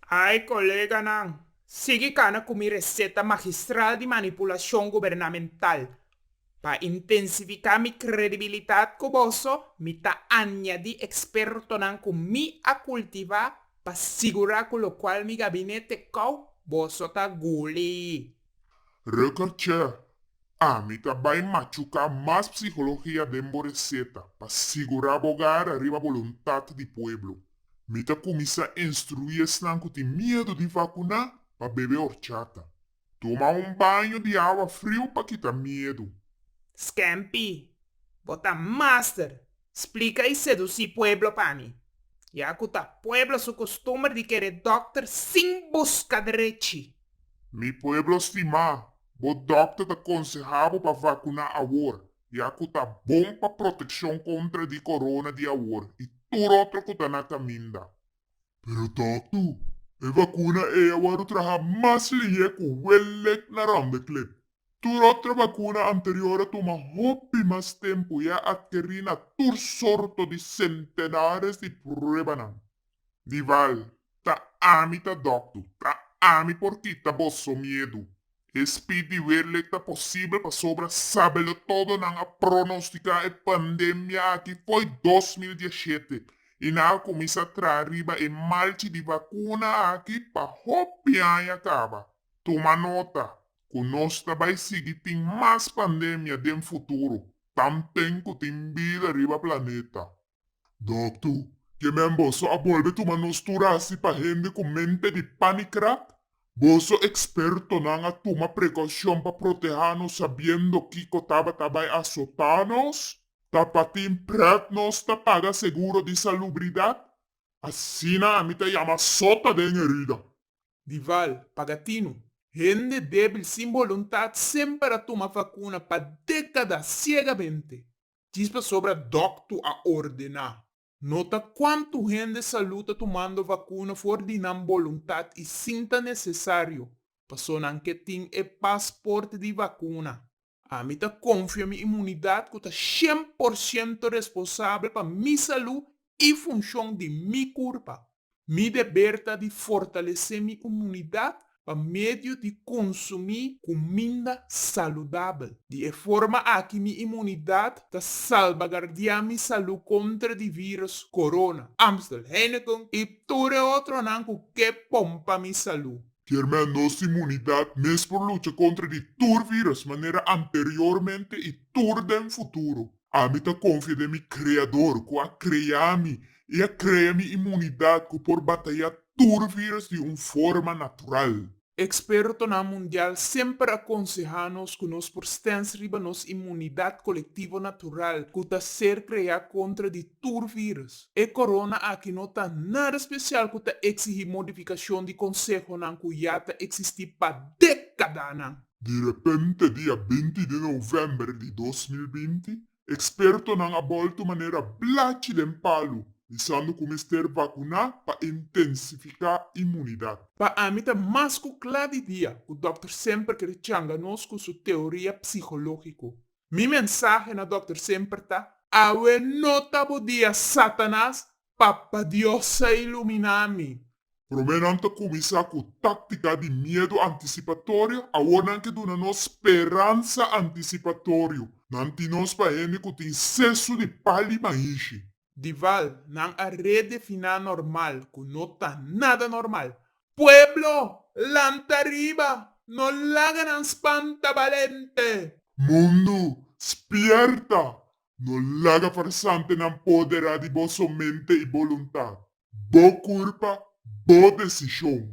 Ai coleganan, sigui cana cu mi receta magistral di manipulacion gubernamental. Pa intensifica mi credibilidad cu boso, mi ta añadi expertonan cu mi a cultiva pa sigura cu locual mi gabinete cau, boso ta guli. Rutger Che, Ami ta bai machuká mas psikologia den bo reseta pa sigurá bo gara riba boluntat di pueblo. Mi ta kuminsá instruí esnan ku tin miedu di vakuná pa bebe orchata. Tuma un baño di awa friu pa kita miedu. Scampy, Bo ta master! Splica y seduci pueblo pa mi. Ya cu ta pueblo su costumber di kere dokter sin busca drechi. Mi pueblo stima, bo dokter ta conseha bo pa vacuna awor, ya cu ta bon pa proteccion contra di corona di awor y tur otro cu ta na caminda. Pero doktu, e vacuna ey a worde traha mas lihé cu wellek na ronde klep. Tur otro bakuna anterior a tuma hopi mas tempu i a adkerí na tur sorto di sentenares di pruebanan. Nival, Ta ami ta dòktu, ta ami por kita boso miedu. E spid di Weerleek ta posibel pasobra sabe lo todo nan a pronostiká e pandemia aki fo'i dos mil dia shete i nan a kuminsá traha riba e malchi di bakuna aki pa hopi aña kaba. Tuma nota cu nos ta bay sigui tin mas pandemia den futuro, tampen cu tin bida riba planeta. Doctu, ke men boso a bolbe tuma nos tur haci pa hende cu mente di panicrap? Boso expertonan a tuma precaucion pa proteha nos sabiendo kico tabata bay asota nos? Ta pa tin pret nos ta paga seguro di salubridad? Asina ami ta yama sota den herida. di val pagatinu. Hende debil sin boluntat semper a tuma vacuna pa decada ciegamente djis pasobra doctu a ordena. Nota cuantu hende salud ta tumando vacuna for di nan boluntat y sin ta necesario, paso nan ke tin e pasport di vacuna. Ami ta konfia mi imunidat ku ta shen por shento responsabel pa mi salú i funshon di mi kurpa. Mi deber ta di fortalesé mi imunidat pa medio di konsumí kuminda saludabel. Di e forma aki mi imunidat ta salbagardiá mi salú kontra di vírùs Corona, Amstel, Heineken i tur e otronan ku ke pompa mi salú. Tiermen, nos simunidat mes por lucha contra di tur virus manera anteriormente y tur den futuro. Ami ta confia den mi Creador cu a crea mi y a crea mi imunidat cu por bataya tur virus di un forma natural. Expertonan mundial semper a conseha nos cu nos por stens riba nos imunidat colectivo natural cu ta ser crea contra di tur vírùs. E corona aki no ta nada special cu ta exigí modificacion di consehonan cu ya ta existí pa décadanan. Di repente dia binti di november di dos mil binti, expertonan a bolto manera blachi den palu, bisando cu mester vacuná pa intensificá inmunidad. Pa ami ta mas cu cla di dia cu Dòkter semper kere changa nos cu su teoria psicológico. Mi mensahe na dokter semper ta. Awe no ta bo dia Satanas, Papa Dios a ilumina mi. Prome nan ta kuminsá ku táktika di miedu antisipatorio, awor nan ke duna nos speransa antisipatorio. Nan tin nos pa hende ku tin sesu di pal di mainshi. Dival, nan a redefiná normal ku no ta nada normal. Pueblo! Lanta riba! No laga nan spanta balente! Mundu! Spierta! No laga farsantenan poderá di boso mente i boluntat. Bo kurpa, bo desishon.